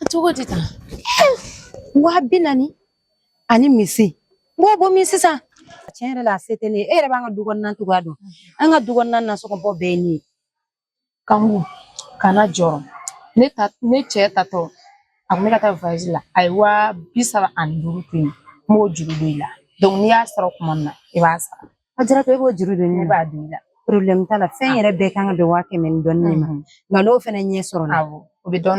A cogo di tan waa bi naani ani misi n b'o bɔ min sisan tiɲɛ yɛrɛ la a se tɛ ne ye e yɛrɛ b'an ka du kɔnɔna cogoya dɔn an ka du kɔnɔna nasɔngɔbɔ bɛɛ ye ne ye Kanku kana jɔrɔ ne ta ne cɛ taatɔ a kun bɛ ka taa voyage la a ye waa bi saba ani duuru to yen n b'o juru don i la donc n'i y'a sɔrɔ kuma min na i b'a sara Ajaratu e b'o juru don ne b'a don i la problème t'a la fɛn yɛrɛ bɛɛ kan ka bɛn waa kɛmɛ ni dɔɔni ma nka n'o fana ɲɛ sɔrɔla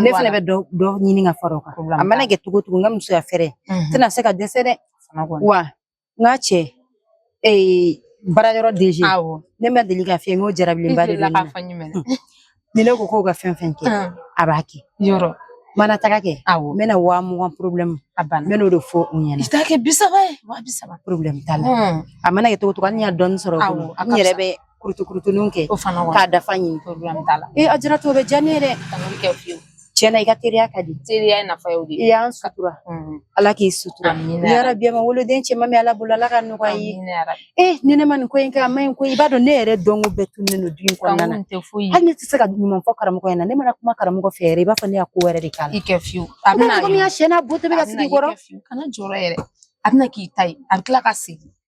ne fana bɛ dɔ ɲini ka fara o kan a mana kɛ cogo cogo n ka musoya fɛɛrɛ tɛna se ka dɛsɛ dɛ wa n ka cɛ baara yɔrɔ DG ne ma deli ka fɛn n ko jarabilenba de bɛ ne na ni ne ko k'o ka fɛn fɛn kɛ a b'a kɛ yɔrɔ mana taga kɛ awɔ n bɛna waa mugan problème a banna n bɛn'o de fɔ u ɲɛna i t'a kɛ bi saba ye waa bi saba problème t'a la a mana kɛ cogo cogo hali ni n y'a dɔɔni sɔrɔ n yɛrɛ bɛ kurutukurutuninw kɛ k'a dafa ɲini problème t'a la ee Ajaratu o bɛ diya ne ye dɛ tiɲɛna i ka teriya ka di teriya nafa y'o de ye i y'an sutura ala k'i sutura yarabi ma woloden cɛman min ala bolo ala k'a nɔgɔya i ye ee ni ne ma nin ko in kɛ a ma ɲi ko i b'a dɔn ne yɛrɛ dɔnko bɛɛ tunnen don du in kɔnɔna na hali ne tɛ se ka ɲuman fɔ karamɔgɔ in na ne mana kuma karamɔgɔ fɛ yɛrɛ i b'a fɔ ne y'a ko wɛrɛ de k'a la i kɛ fiyewu a bɛna komi Aisha n'a bo tɛ bɛ ka sigi kɔrɔ kana jɔrɔ yɛrɛ a bɛna k'i ta ye a bɛ tila ka segin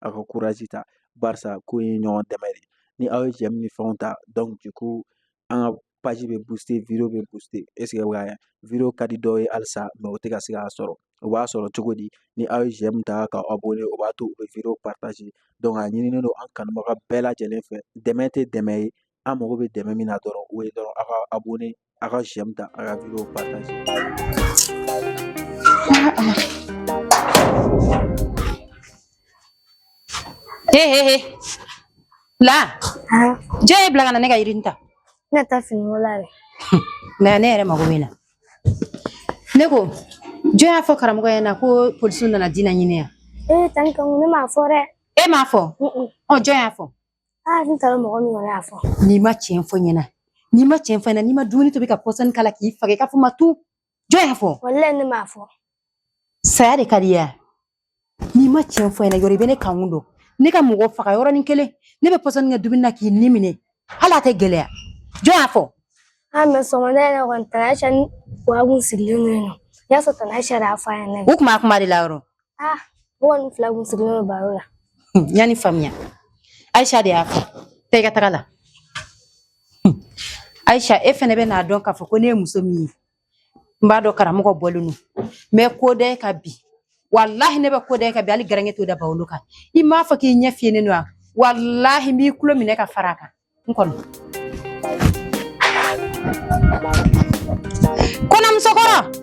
aw ka courage ta barisa ko in ye ɲɔgɔn dɛmɛ de ye ni aw ye j'aime ni fɛnw ta donc du coup an ka page bɛ booster video bɛ booster est ce que aw y'a ye video ka di dɔw ye halisa mais u tɛ ka se k'a sɔrɔ o b'a sɔrɔ cogo di ni aw ye j'aime ta ka abonner o b'a to u bɛ video partager donc a ɲininen don an kanubaga bɛɛ lajɛlen fɛ dɛmɛ tɛ dɛmɛ ye an mago bɛ dɛmɛ min na dɔrɔn o ye dɔrɔn aw ka abonner a ka j'aime ta a ka video partager he he he la jɔn y'i bila ka na ne ka yirini ta ne ta fini ko la dɛ nka ne yɛrɛ mago b'e na ne ko jɔn y'a fɔ karamɔgɔ ɲɛna ko polisiw nana dina ɲini yan ee tan Kanku ne m'a fɔ dɛ e m'a fɔ ɔ jɔn y'a fɔ aa n t'a dɔn mɔgɔ min y'a fɔ n'i ma tiɲɛ fɔ n ɲɛna n'i ma tiɲɛ fɔ n ɲɛna ni n ma dumuni tobi ka pɔsɔni k'a la k'i faga i k'a fɔ ma tu jɔn y'a fɔ walayi ne m'a fɔ saya de ka di ya n'i ma tiɲɛ fɔ n ɲɛna yɔrɔ i bɛ ne Kanku dɔn ne ka mɔgɔ faga yɔrɔnin kelen ne bɛ pɔsɔni kɛ dumuni na k'i ni minɛ hali a tɛ gɛlɛya jɔn y'a fɔ an mais sɔgɔmada yɛrɛ kɔni tan Aisha ni Awa kun sigilen don yen n'o y'a sɔrɔ tan Aisha de y'a fɔ a ɲɛna o tuma a kuma de la yɔrɔ Ah, mɔgɔ nin fila kun sigilen don baro la. N y'a ni faamuya. Aisha de y'a fɔ. Taa i ka taga la. Aisha, e fɛnɛ bɛ n'a dɔn k'a fɔ ko ne ye muso min ye. N b'a dɔn karamɔgɔ bɔlen don. N bɛ ko da e ka bi. Walahi ne bɛ ko da e ka bi hali garange t'o da bawolo kan. I m'a fɔ k'i ɲɛ fiyenen don wa? Walahi n b'i tulo minɛ ka fara a kan. N kɔnɔ. Kɔnɔmusokɔrɔ!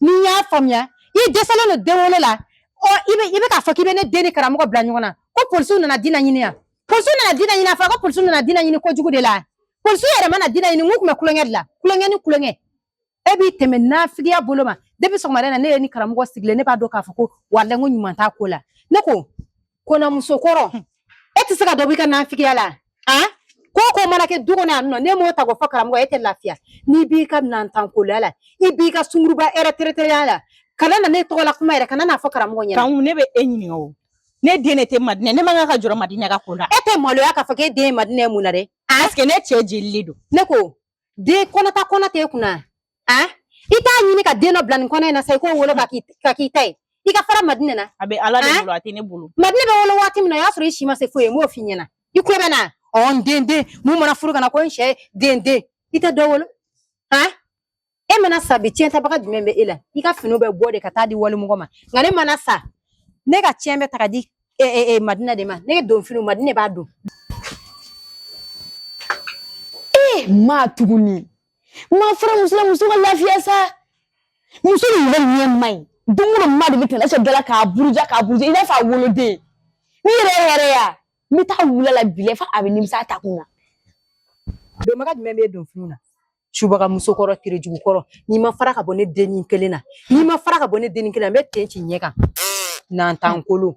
n'i y'a faamuya i dɛsɛlen don den wolo la ɔ i bɛ i bɛ k'a fɔ k'i bɛ ne den ni karamɔgɔ bila ɲɔgɔn na ko polisiw nana dina ɲini yan polisiw nana dina ɲini a fɔra ko polisiw nana dina ɲini kojugu de la polisiw yɛrɛ mana dina ɲini n kun bɛ kulonkɛ de la kulonkɛ ni kulonkɛ e b'i tɛmɛ nafigiya bolo ma depi sɔgɔmada in na ne y'e ni karamɔgɔ sigilen ne b'a dɔn k'a fɔ ko walayi n ko ɲuman t'a ko la ne ko Kɔnɔmuso kɔrɔ e tɛ se ka dɔ b'i ka nafigiya la a ko ko mana kɛ du kɔnɔ yan nɔ ne m'o ta k'o fɔ karamɔgɔ e tɛ lafiya n'i b'i ka nantankoya la i b'i ka sunguruba ɛrɛtɛrɛtɛya la kana na ne tɔgɔ la kuma yɛrɛ kana n'a fɔ karamɔgɔ ɲɛ kan ne bɛ e ɲininka o ne den ne tɛ madinɛ ne man kan ka jɔ madinɛ ka ko la e tɛ maloya k'a fɔ k'e den ye madinɛ mun na dɛ ne cɛ jeli don ne ko den kɔnɔta kɔnɔ tɛ e kunna a i t'a ɲini ka den dɔ bila nin kɔnɔ in na sa i k'o wolo ka k'i ka k'i ta ye i ka fara madinɛ na a bɛ ala de bolo a tɛ ne bolo madinɛ bɛ wolo waati min na o y'a sɔrɔ i si ma se foyi ye n b'o f'i ɲɛna i ko bɛ na ɔ n den den mun mana furu ka na ko n cɛ den den i tɛ dɔ wolo a e mana sa bi tiɲɛtabaga jumɛn bɛ e la i ka finiw bɛ bɔ de ka taa di walimɔgɔ ma nka ne mana sa ne ka tiɲɛ bɛ ta ka di e, e, e, madinɛ de ma ne ka don finiw madinɛ b'a don e ma tuguni ma fara muso la muso ka lafiya sa muso in yɛrɛ ɲɛ ma ɲi don o don ma de bɛ tɛmɛ ɛsɛ dala k'a buruja k'a buruja i n'a fɔ a woloden n'i yɛrɛ yɛrɛ ya n bɛ taa wula la bi la fo a bɛ nimisa a ta kun na. donbaga jumɛn bɛ don finiw na subaga muso kɔrɔ terejugu kɔrɔ n'i ma fara ka bɔ ne dennin kelen na n'i ma fara ka bɔ ne dennin kelen na n bɛ ten ci ɲɛ kan nantankolo.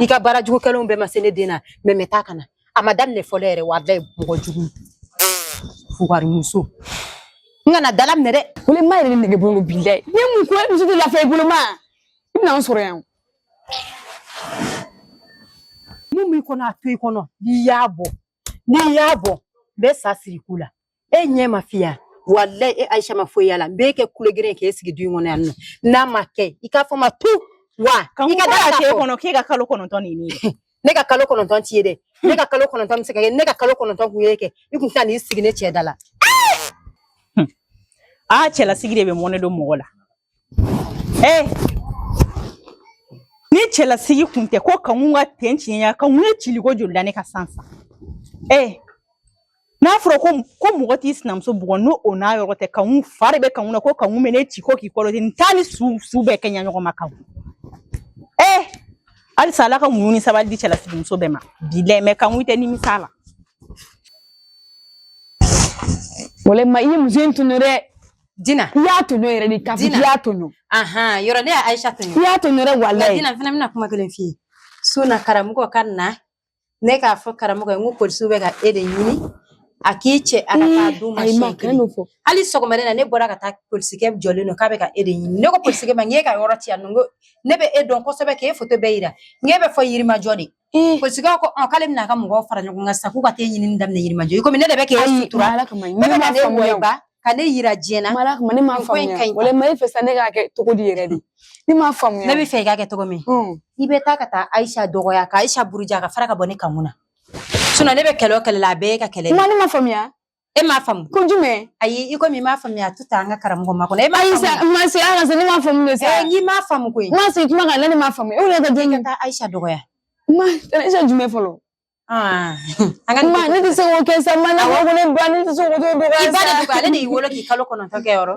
i ka baara jugu kɛlenw bɛɛ ma se ne den na mɛ mɛ taa kana a ma daminɛ fɔlɔ yɛrɛ walayi mɔgɔ jugu fugarimuso n kana dalaminɛ dɛ wele ma yɛrɛ nege bolo bila ne mun ko e muso tɛ lafiya i bolo ma i bɛna n sɔrɔ yan mun b'i kɔnɔ a to i kɔnɔ n'i y'a bɔ n'i y'a bɔ n bɛ sa siri ko la e ɲɛ ma fiya walayi e aisha ma foyi yala n b'e kɛ kulogeren k'e sigi du in kɔnɔ yan nɔ n'a ma kɛ i k'a fɔ ma tu wa i ka da k'e kɔnɔ k'e ka kalo kɔnɔntɔn nin ne ye ne ka kalo kɔnɔntɔn t'i ye dɛ ne ka kalo kɔnɔntɔn bɛ se ka kɛ ne ka kalo kɔnɔntɔn kun ye kɛ i kun tɛna n'i sigi ne cɛ da la aa cɛlasigi de bɛ mɔnɛ don mɔgɔ la ee eh! ni cɛlasigi kun tɛ ko kankun ka ten tiɲɛya kankun ye ciliko joli da ne kan sisan ee eh! n'a fɔra ko ko mɔgɔ t'i sinamuso bugɔ n'o o n'a yɔrɔ tɛ kankun fa de bɛ kankun na ko kankun bɛ ne ci ko k'i kɔrɔti n t'a ni su su bɛɛ kɛɲɛ ɲɔgɔn ma kankun ee eh! halisa ala ka muɲu ni sabali di cɛlasigi muso bɛɛ ma bi lɛ mɛ kankun tɛ nimisa la wala ma i ye muso in tɔɲɔ dɛ Dina i y'a tɔɲɔ yɛrɛ de kafiri i y'a tɔɲɔ ahan yɔrɔ ne ye Ayisa tɔɲɔ i y'a tɔɲɔ dɛ walayi Dina fana bɛna kuma kelen f'i ye su na karamɔgɔ ka na ne k'a fɔ karamɔgɔ ye n ko polisiw bɛ ka e de ɲini a k'i cɛ a ka taa d'u ma siɲɛ kelen hali sɔgɔmada in na ne bɔra ka taa polisikɛ jɔlen don k'a bɛ ka e de ɲini ne ko polisikɛ ma n k'e ka yɔrɔ tɛ yan nɔ n ko ne bɛ e dɔn kosɛbɛ k'e foto bɛɛ jira n k'e bɛ fo yirimajɔ de Ee polisikɛ ko ɔn k'ale bɛna a ka mɔgɔw fara ɲɔgɔn kan sisan k'u ka t'e ɲinini daminɛ Yirimajɔ ye komi ne de bɛ k'e Ayi sutura Ala kama ne bɛ m'a ka ne faamuya o wɔyɔba ka ne yira diɲɛ na Ala kama ne m'a nin ko in faamuya ka ɲi walayi Ma i b'a fɛ sisan ne k'a kɛ cogo di yɛrɛ de ne m'a faamuya ne b'a fɛ i k'a kɛ cogo min Hum. i bɛ taa ka taa Ayisa dɔgɔya ka Ayisa buruja ka fara ka bɔ ne kanmu na sinɔn ne bɛ kɛlɛ o kɛlɛ la a bɛɛ y'e ka kɛlɛ de ye. Ma ne m'a faamuya e m'a faamu ko jumɛn ayi i komi i m'a faamuya a to tan an ka karamɔgɔ makɔnɔ e m'a faamu ma se ala ne m'a faamu de sa eh, n'i m'a faamu koyi ma se kuma kan ne m'a faamu e wulila ka den ka taa Aisha dɔgɔya ma Aisha jumɛn fɔlɔ ah. an ka ma ne tɛ se k'o kɛ sa ma ne ko ne ba ne tɛ se k'o dɔgɔya sa i ba de ale de y'i wolo k'i kalo kɔnɔntɔn kɛ yɔrɔ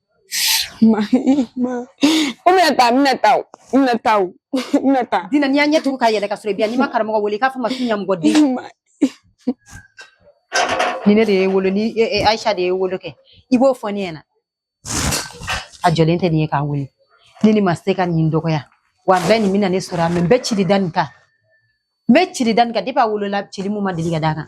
kɔmi taa bɛna taa bɛna taa bɛna taa dina ni n y'a ɲɛ tugu ka yɛlɛ ka sɔrɔ i bɛ yan n'i ma karamɔgɔ wele k'a fɔ ma k'i ɲamɔgɔden ni ne de y'i wolo ni Aisha de y'i wolo kɛ i b'o fɔ ne ɲɛna a jɔlen tɛ nin ye k'a wele ne ni ma tɛ se ka nin dɔgɔya walayi nin bɛna ne sɔrɔ yan mɛ n bɛ cili da nin kan n bɛ cili da nin kan depi a wolola cili mun ma deli ka d'a kan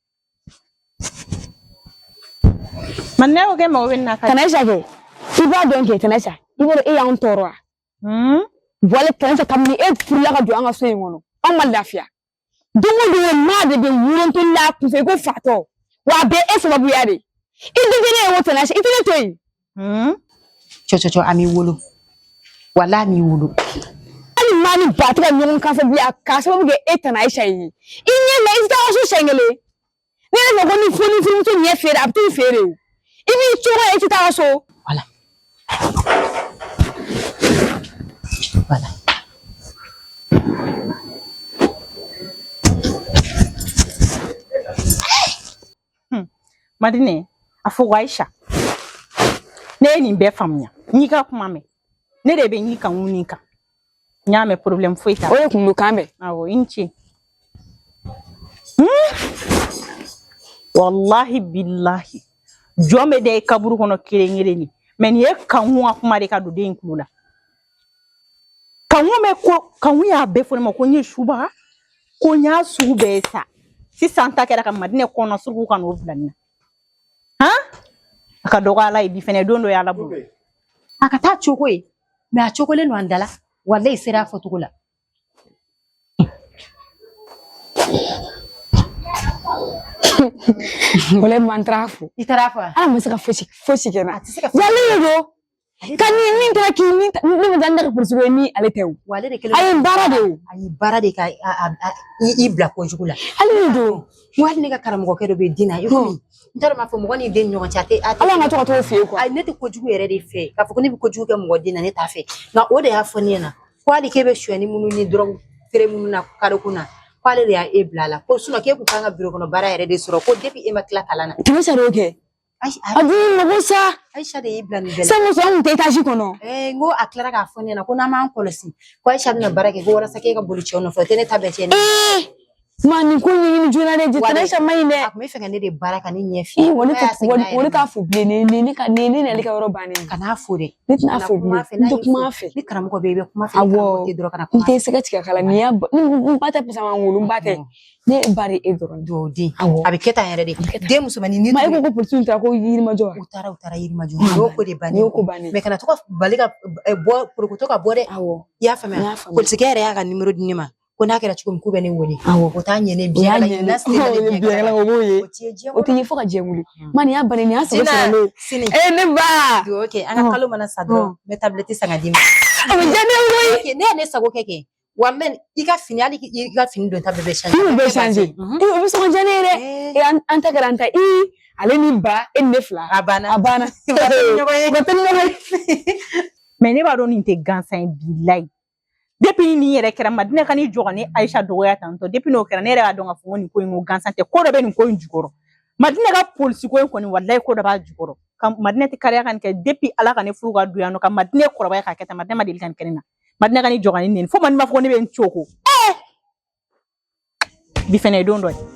Ma ne ko kɛ mago bɛ na tana Aisha kɛ i b'a dɔn kɛ tana Aisha i bɔ e y'an tɔɔrɔ wala tana Aisha kabini e furula ka don an ka so in kɔnɔ an ma lafiya don o don ma de bɛ wuruntuli la kun fɛ ko fatɔ wa a bɛ e sababuya de i dun ne ye o tana Aisha i tɛ ne to yen Hmm? Cɔcɔcɔ a m'i wolo wala a m'i wolo hali ma ni ba tɛ ka ɲɔgɔn kan fɔ bilen k'a sababu kɛ e tana Aisha ye i ɲɛ la i tɛ taa so siɲɛ kelen ne yɛrɛ ko ni foni furumuso ɲɛ feere a bɛ t'i feere o i b'i cogo ye i tɛ taa so wala wala Hmm. Madine, a fɔ ko Aisha, ne ye nin bɛɛ faamuya. N y'i ka kuma mɛn. Ne de bɛ n y'i kan ŋun nin kan. N y'a mɛn problème foyi t'a la. O de kun don k'an bɛn. Awɔ, i ni ce. Hmm. Wallahi billahi. Jɔn bɛ da i kaburu kɔnɔ kelen kelen de. Mais nin ye Kankun ka kuma de ka don den in kulo la. Kankun bɛ ko Kankun y'a bɛɛ fɔ ne ma ko n ye suba ko n y'a sugu bɛɛ ye sa sisan ta kɛra ka madine kɔnɔ suruku ka n'o bila n na a ka dɔgɔ ala ye bi fana don dɔ ye ala bolo a ka taa cogo ye mɛ a cogolen don an dala walayi sera a fɔcogo la Wala man fo i taara fɔ ala ma se ka fosi fosi kɛ n na a tɛ se ka Ka ni min kɛra k'i ni ne bɛ taa ne ka polisi ye min ale tɛ o wa ale de kɛlen a y'i baara de o a y'i baara de ka i bila ko jugu la ale don wa ne ka karamɔgɔkɛ dɔ bɛ den na i ko n t'a dɔn b'a fɔ mɔgɔ ni den ɲɔgɔn cɛ a tɛ ala ka tɔgɔ t'o fɛ yen kuwa ne tɛ ko jugu yɛrɛ de fɛ k'a fɔ ko ne bɛ ko jugu kɛ mɔgɔ den na ne t'a fɛ nka o de y'a fɔ ne ɲɛna ko hali k'e bɛ sonyani minnu ni dɔrɔgu feere minnu na kalo kun na k'ale de y'e bila a la ko k'e kun kan ka biro kɔnɔ baara yɛrɛ de sɔrɔ ko depuis e ma tila kalan na tɛmɛ sari o kɛ A dun mago sa ayisa de y'i bila nin bɛɛ la sango sɔn kun tɛ etazi kɔnɔ n ko a tilara k'a fɔ ne ɲɛna ko n'an m'an kɔlɔsi ko ayisa bɛna baara kɛ ko walasa k'e ka boli cɛw nɔfɛ o tɛ ne ta bɛɛ cɛn ni n ma nin ko ɲɛɲini joona dɛ jɛtɛrɛ ayisa man ɲi dɛ a tun bɛ fɛ ka ne de baara ka ne ɲɛ fiye wa ne t'a fo bilen wa ne t'a fo bilen nin nin ne ka nin ne n'ale ka yɔrɔ bannen kana a fo dɛ ne tɛna a fo bilen n tɛ kuma fɛ ni karamɔgɔ bɛ i bɛ kuma fɛ awɔ dɔrɔn kana kuma n tɛ se ka tigɛ kala nin y'a n ba tɛ parce que a ma n wolo n ba tɛ Ne ba de e dɔrɔn don dɛ a bɛ kɛ tan yɛrɛ de den musomannin ni e ko polisiw ta ko yirimajɔ u taara u taara yirimajɔ o ko de bannen o ko bannen mɛ kana to k'a bali ka bɔ porokoto ka bɔ dɛ awɔ i y'a faamuya polisikɛ yɛrɛ y'a ka nimoro di ne ma ko n'a kɛra cogo min k'u bɛ ne wele awɔ o t'a ɲɛ ne bi yala ɲinɛ o b'o ye o tɛ ye fo ka jɛ wuli ma nin y'a bannen nin y'a sɔrɔ sɔrɔ sini ee ne ba dugawu kɛ an ka kalo mana sa dɔrɔn n bɛ tabulɛti san ka d'i ma a bɛ diya ne ye koyi ne ye ne sago kɛ kɛ Wa n bɛ i ka fini hali k'i i ka fini don ta bɛɛ bɛ changer i bɛ changer o bɛ sɔn diya ne ye dɛ e an ta kɛra an ta i ale ni ba e ni ne fila a banna a banna mais ne b'a dɔn nin tɛ gansan ye bilayi depuis nin yɛrɛ kɛra madine ka n'i jɔ ka ne ayisa dɔgɔya tantɔ depuis n'o kɛra ne yɛrɛ y'a dɔn k'a fɔ ko nin ko in ko gansan tɛ ko dɔ bɛ nin ko in jukɔrɔ madine ka polisi ko in kɔni walayi ko dɔ b'a jukɔrɔ ka madine tɛ kariya ka nin kɛ depuis ala ka ne furu ka don yan nɔ ka madine kɔrɔbaya k'a kɛ tan madine ma deli ka nin kɛ ne na madina ka ni jɔgɔn ni fo ma n'i m'a fɔ ne bɛ n cogo ɛɛ eh! bi fɛnɛ ye don dɔ ye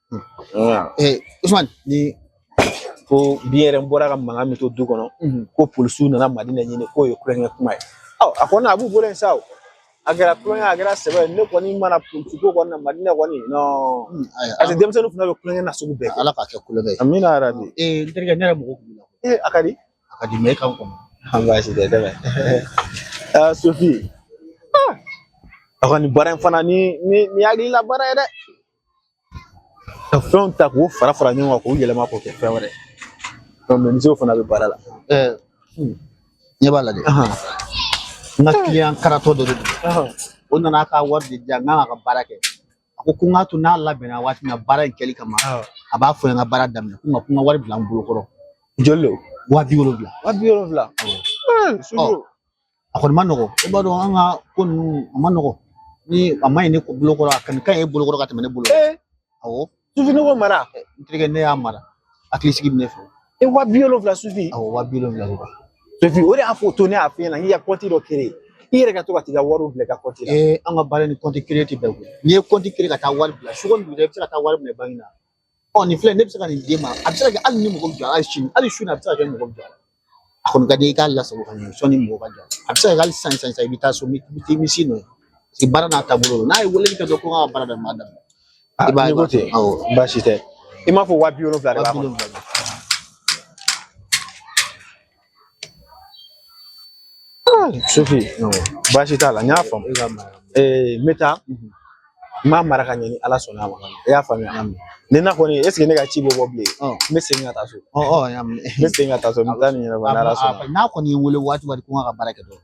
ee usman ni ko bi yɛrɛ n bɔra ka mankan min to du kɔnɔ ko polisiw nana madina ɲini k'o ye tulonkɛ kuma ye a kɔni a b'u bolo yen sa o a kɛra tulonkɛ a kɛra sɛbɛ ne kɔni ma da polisi ko kɔni na madina kɔni nɔn parce que denmisɛnninw fana bɛ tulonkɛ na sugu bɛɛ kɛ ala k'a kɛ tulonkɛ ye amina yarabi ee n terikɛ ne yɛrɛ mago kun b'e la ee a ka di a ka di mɛ e kan kɔnɔ an baasi tɛ dɛmɛ aa sofi a kɔni baara in fana ni ni ni hakilila baara ye dɛ ka fɛnw ta k'u fara fara ɲɔgɔn kan k'u yɛlɛma k'o kɛ fɛn wɛrɛ mɛnisew fana bɛ baara la ɲɛ b'a la dɛ n ka kiliyan karatɔ dɔ de don o nana ka wari de di yan n k'a ka baara kɛ a ko ko n k'a to n'a labɛnna waati min na baara in kɛli kama a b'a fɔ n ka baara daminɛ ko nka ko n ka wari bila n bolo kɔrɔ joli lo wa bi wolonwula wa bi wolonwula a kɔni ma nɔgɔ i b'a dɔn an ka ko ninnu a ma nɔgɔ ni a ma ɲi ne bolo kɔrɔ a kɔni ka ɲi e bolo kɔrɔ ka tɛmɛ ne bolo awɔ sofi ne k'o mara n terikɛ n'e y'a mara hakili sigi bɛ ne fɛ e wa bi wolonwula sofi awɔ wa bi wolonwula de kan sofi o de y'a fɔ o to ne y'a f'i ɲɛna k'i ka kɔnti dɔ kere i yɛrɛ ka to ka t'i ka wariw bila i ka kɔnti la ee an ka baara ni kɔnti kere tɛ bɛn koyi n'i ye kɔnti kere ka taa wari bila su kɔni dugu la i bɛ se ka taa wari minɛ banki na ɔ nin filɛ ne bɛ se ka nin d'i ma a bɛ se ka kɛ hali ne mago jɔ hali sini hali sini a bɛ se ka kɛ mago jɔ a kɔni ka di i k'a lasago ka ɲɛ sɔnni mago ka jɔ a bɛ se ka kɛ hali sisan sisan i bɛ taa so i bɛ t'i misi nɔ ye baara n'a taabolo don n'a ye weleli kɛ dɔrɔn ko n ka baara daminɛ a daminɛ i b'a ye ko ten awɔ baasi tɛ i m'a fɔ waa bi wolonwula de b'a kɔnɔ Ah, Sofi baasi t'a la n y'a faamu n bɛ taa n b'a mara ka ɲɛ ni ala sɔnna a ma i y'a faamuya nin na kɔni eseke ne ka ci bɛ bɔ bilen n bɛ segin ka taa so n bɛ segin ka taa so n bɛ taa nin ɲɛnabɔ ala sɔnna n'a kɔni ye n wele waati ko n ka baara kɛ dɔrɔn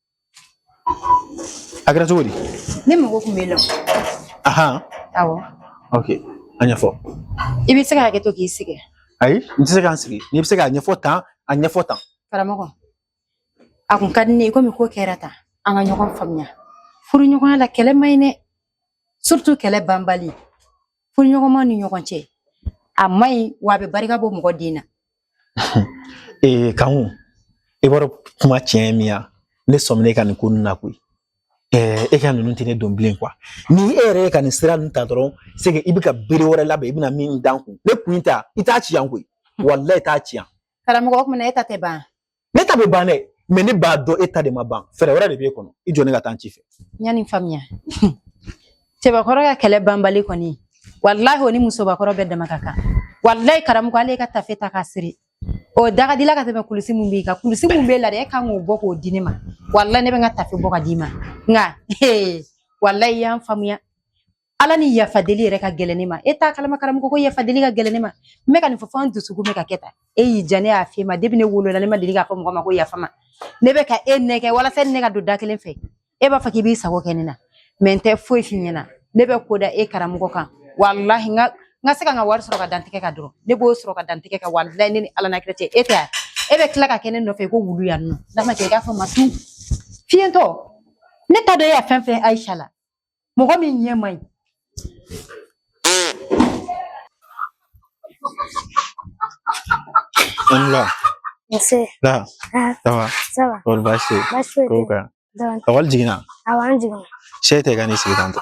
a kɛra cogo di ne mago kun b'e la ahan awɔ ok a ɲɛfɔ i bɛ se ka hakɛto k'i sigi ayi n tɛ se ka n sigi n'i bɛ se k'a ɲɛfɔ tan a ɲɛfɔ tan karamɔgɔ a kun ka di ne ye komi ko kɛra tan an ka ɲɔgɔn faamuya furuɲɔgɔnya la kɛlɛ man ɲi dɛ surtout kɛlɛ banbali furuɲɔgɔnmaw ni ɲɔgɔn cɛ a man ɲi wa a bɛ barika bɔ mɔgɔ den na ee kanku i b'a dɔn kuma tiɲɛ ye min ye ne sɔmina e ka nin ko ninnu na koyi ɛɛ e ka ninnu tɛ ne don bilen kuwa ni e yɛrɛ ye ka nin sira ninnu ta dɔrɔn se ke i bɛ ka bere wɛrɛ labɛn i bɛna min da n kun ne kun ta i t'a ci yan koyi walayi i t'a ci yan. karamɔgɔ o tuma na e ta tɛ ban. ne ta bɛ ban dɛ mɛ ne b'a dɔn e ta de ma ban fɛɛrɛ wɛrɛ de b'e kɔnɔ i jɔ ne ka taa n ci fɛ ɲani faamuya cɛbakɔrɔ ka kɛlɛ banbali kɔni walahi o ni musobakɔrɔ bɛɛ dama ka kan walahi karamɔgɔ ale ka tafe ta k'a siri o da ka di i la ka tɛmɛ kulusi min b'i kan kulusi min b'e la dɛ e kan k'o bɔ k'o di ne ma walahi ne bɛ n ka tafe bɔ k'a d'i ma nka walahi i y'an faamuya Ala ni yafa deli yɛrɛ ka gɛlɛn ne ma e t'a kalama karamɔgɔ ko yafa deli ka gɛlɛn ne ma n bɛ ka nin fɔ fo n dusukun bɛ ka kɛ tan e y'i diya ne y'a f'e ma depuis ne wolola ne ma deli k'a fɔ mɔgɔ ma ko yafa n ma ne bɛ ka e nɛgɛ walasa ne ka don da kelen fɛ e b'a fɔ k'i b'i sago kɛ ne na mɛ n tɛ foyi f'i ɲɛna ne bɛ ko da e karamɔgɔ kan walahi n ka n ka se ka n ka wari sɔrɔ k'a da n tɛgɛ kan dɔrɔn ne b'o sɔrɔ k'a da n tɛgɛ kan walahi ne ni ala n'a kira cɛ e tɛ yan e bɛ tila ka kɛ ne nɔfɛ ko wulu yan nɔ n'a ma kɛ i k'a fɔ n ma tun fiyentɔ ne t'a dɔn e y'a fɛn fɛn ayisa la mɔgɔ min ɲɛ man ɲi Aw ni wula. Nse. Da. Ça va. Ça va. Kɔri baasi tɛ yen. Baasi foyi tɛ yen. Kow ka ɲi. Dɔɔni. Ekɔli jiginna. Awɔ an jiginna. Sɛsi ta ka n'i sigi tan tɔ.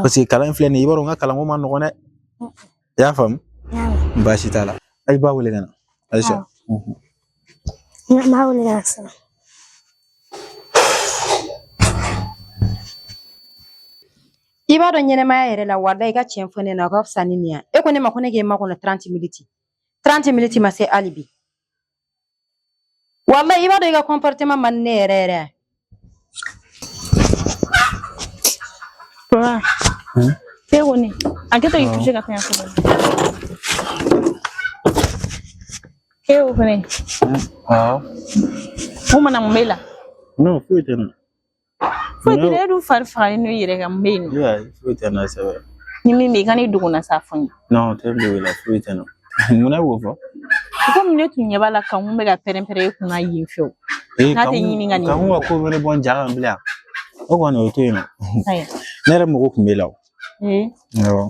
paseke kalan in filɛ nin ye i b'a dɔn n ka kalanko man nɔgɔn dɛ i y'a faamu baasi t'a la ayi b'a wele ka na ayisa n b'a wele ka na sisan i b'a dɔn ɲɛnɛmaya yɛrɛ la wala i ka tiɲɛ fɔ ne na o ka fisa ni nin ye e ko ne ma ko ne k'e makɔnɔ 30 minutes 30 minutes ma se hali bi wala i b'a dɔn i ka kɔnpɔritema man di ne yɛrɛ yɛrɛ ye Papa, ke kɔni a kɛ to k'i touché ka fɛn fɔ dɔrɔn. Ke o fɛnɛ Awɔ. mun mana mun b'e la Nɔ foyi tɛ ne na. Foyi tɛ e dun fari faganen yɛrɛ ka mun bɛ yen nɔ foyi tɛ n na sɛbɛ ni min bɛ yen kan'i dogo n na sa a fɔ n ye n tɛ dogo i la foyi tɛ n na mun na i b'o fɔ komi ne tun ɲɛ b'a la kanku bɛ ka pɛrɛn pɛrɛn e kunna yen fewu n'a tɛ ɲini ka nin kan ka ko wɛrɛ bɔ n ja kan bilen o kɔni o to yen nɔ ne yɛrɛ mago tun b'e la o awɔ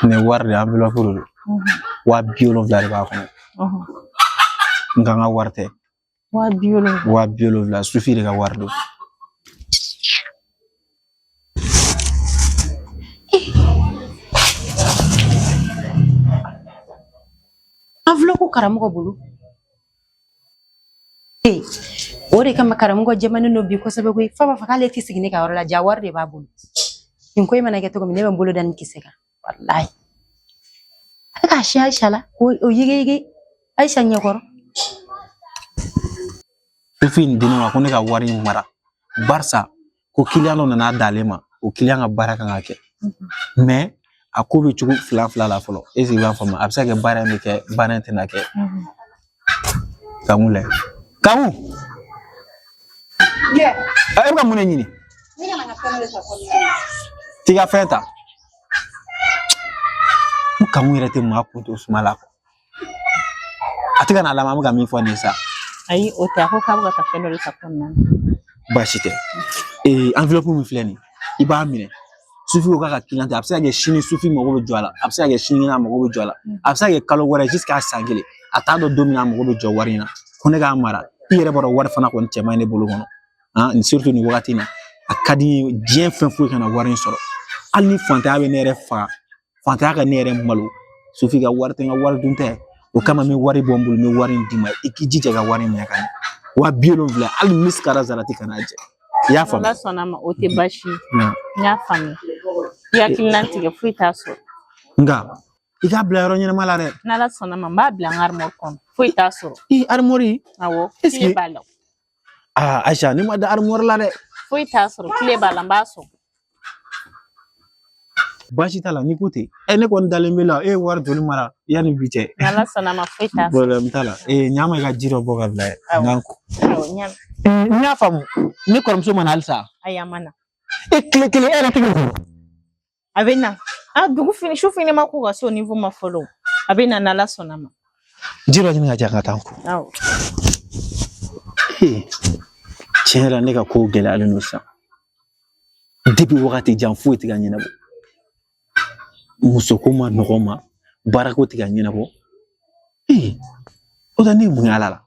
Ne wari de enveloppe de don waa bi wolonwula de b'a kɔnɔ nka n ka wari tɛ waa bi wolonwula sufi de ka wari don enveloppe karamɔgɔ bolo Ee o de kama karamɔgɔ jɛmani don bi kosɛbɛ koyi f'a b'a fɔ k'ale ti sigi ne ka yɔrɔ la ja wari de b'a bolo nin ko in mana kɛ cogo min ne bɛ n bolo da nin kisɛ kan walayi a bɛ k'a siɲɛ ayisa la k'o o yigiyigi ayisa ɲɛkɔrɔ sufi nin di ne ma ko ne ka wari in mara barisa ko kiliyan dɔ nana d'ale ma o kiliyan ka baara kan ka kɛ mais a ko bɛ cogo fila fila la fɔlɔ esike i b'a faamu a bɛ se ka kɛ baara in bɛ kɛ baara in tɛna kɛ kamu lajɛ kamu e bɛ ka mun de ɲini t'i ka fɛn ta ko kamu yɛrɛ tɛ maa kun to suma la a tɛ ka na laban an bɛ ka min fɔ nin sa ayi o tɛ a ko k'a bɛ ka taa fɛn dɔ de ta kɔnɔna na baasi tɛ ee enveloppe min filɛ nin i b'a minɛ sufi ko k'a ka kiliyan a bɛ se ka kɛ sini sufi mago bɛ jɔ a la a bɛ se ka kɛ sini a mago bɛ jɔ a la a bɛ se ka kɛ kalo wɛrɛ jusqu'à san kelen a t'a dɔn don min na a mago bɛ jɔ wari in na ko ne k'a mara i yɛrɛ b'a dɔn wari fana kɔni cɛ man ɲi ne bolo kɔnɔ ah nin surtout nin wagati in na a ka di n ye diɲɛ fɛn foyi kana wari in sɔrɔ hali ni fantanya bɛ ne yɛrɛ faga fantanya ka ne yɛrɛ malo sufi ka wari tɛ n ka wari dun tɛ o kama n bɛ wari bɔ n bolo n bɛ wari in d'i ma i k'i jija ka wari minɛ ka ɲɛ waa bi wolonfila hali misikala zarati kana jɛ i y'a faamu ala sɔnna ma o tɛ baasi ye n y'a faamu i hakili latigɛ foyi t'a sɔrɔ nka i k'a bila yɔrɔ ɲɛnama la dɛ n'ala sɔnna ma n b'a bila n ka arimɔri kɔnɔ foyi t'a sɔrɔ arimɔri awɔ esike kile b'a la aa aisha ne ma da armuwar la dɛ foyi t'a sɔrɔ kile b'a la n b'a sɔgɔ baasi t'a la n'i ko ten ɛ ne kɔni dalen b'i la e ye wari joli mara yanni bi cɛ n'ala sɔnna ma foyi t'a sɔrɔ problème t'a la ee ɲa n ma i ka ji dɔ bɔ k'a bila n ka n ko awɔ n y'a faamu ne kɔrɔmuso ma na halisa ayi a ma na e tile kelen e yɛrɛ tɛ ka a bɛ na a dugu fɛnɛ su fɛnɛ ma ko ka se o niveau ma fɔlɔ a bɛ na n'ala sɔnna ma ji dɔ ɲini k'a di yan n ka taa n ko tiɲɛ yɛrɛ ne ka kow gɛlɛyalen don sisan depi wagati jan foyi tɛ ka ɲɛnabɔ musoko man nɔgɔ n ma baarako tɛ ka ɲɛnabɔ o tɛ ne ye mun y'a la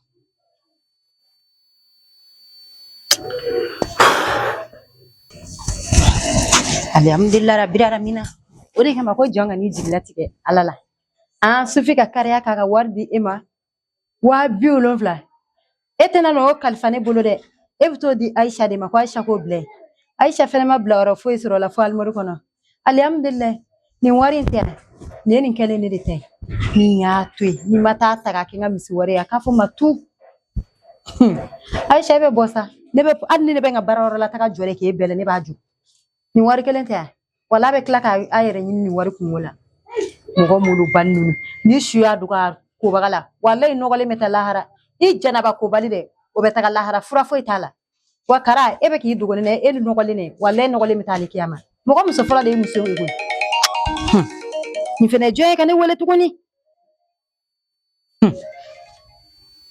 Alihamidulila rabili alamina o de kama ko jɔn kan'i jigi latigɛ ala la an sufi ka kiliyan k'a ka wari di e ma waa bi wolonfila e tɛna na o kalifa ne bolo dɛ e bɛ t'o di ayisa de ma ko ayisa k'o bila i ye ayisa fɛnɛ ma bila yɔrɔ foyi sɔrɔ o la fo arimɔri kɔnɔ alihamudulila nin wari in tɛ yan nin ye ne kelenna de ta ye ni n y'a to yen n'i ma taa ta k'a kɛ n ka misi wari ye a k'a fɔ ma tu ayisa e bɛ bɔ sa ne bɛ hali ni ne bɛ n ka baara yɔrɔ la taga jɔ de k'e bɛlɛ ne b'a jɔ nin wari kelen tɛ yan wala a bɛ tila k'a a yɛrɛ ɲini nin wari kunko la mɔgɔ malobali ninnu ni su y'a dogo a kobaga la walayi nɔgɔlen bɛ taa lahara i janaba kobali de bɛ taga lahara fura foyi t'a la wa kara e bɛ k'i dogo ne na e ni nɔgɔlen dɛ walayi nɔgɔlen bɛ taa alikiyama mɔgɔ muso fɔlɔ de ye muso ye koyi nin fɛnɛ jɔn ye ka ne wele tuguni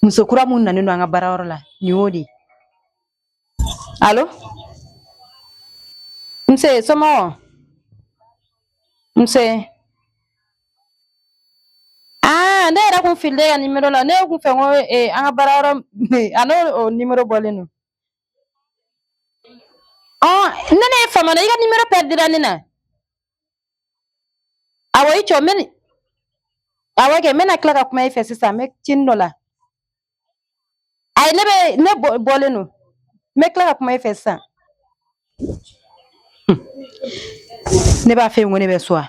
muso kura min nanen don an ka baarayɔrɔ la nin y'o de ye alo nse somɔgɔ nse Aa ne yɛrɛ kun filila e ka nimero la ne kun fɛ ko eh, an ka baara yɔrɔ a n'o o nimero bɔlen don ɔ ne ne y'a faamu i ka nimero pɛrɛdira ne na awɔ i jɔ n bɛ ni- awɔ kɛ n bɛna tila ka kuma i fɛ sisan n bɛ cinin dɔ la ayi ne bɛ ne bɔ- bɔlen don n bɛ tila ka kuma i fɛ sisan ne b'a fɛ ko ne bɛ so wa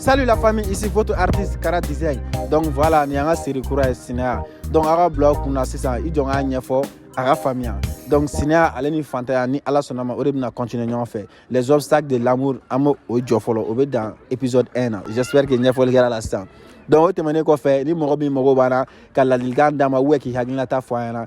Salut la famille, ici votre artiste Kara Design. Donc voilà, nin an ka série kura ye Sinaya. Donc aw ka bila aw kunna sisan i jɔ n k'a ɲɛfɔ aw k'a faamuya. Donc Sinaya ale ni fantanya ni Ala sɔnna ma o de bɛna continuer ɲɔgɔn fɛ. Les obstacles de l'amour an b'o o jɔ fɔlɔ o bɛ dan épisode 1 na. J'espère que ɲɛfɔli kɛra la sisan. Donc o tɛmɛnen kɔfɛ ni mɔgɔ min mago b'an na ka ladilikan d'an ma ou bien k'i hakilinata fɔ an ɲɛna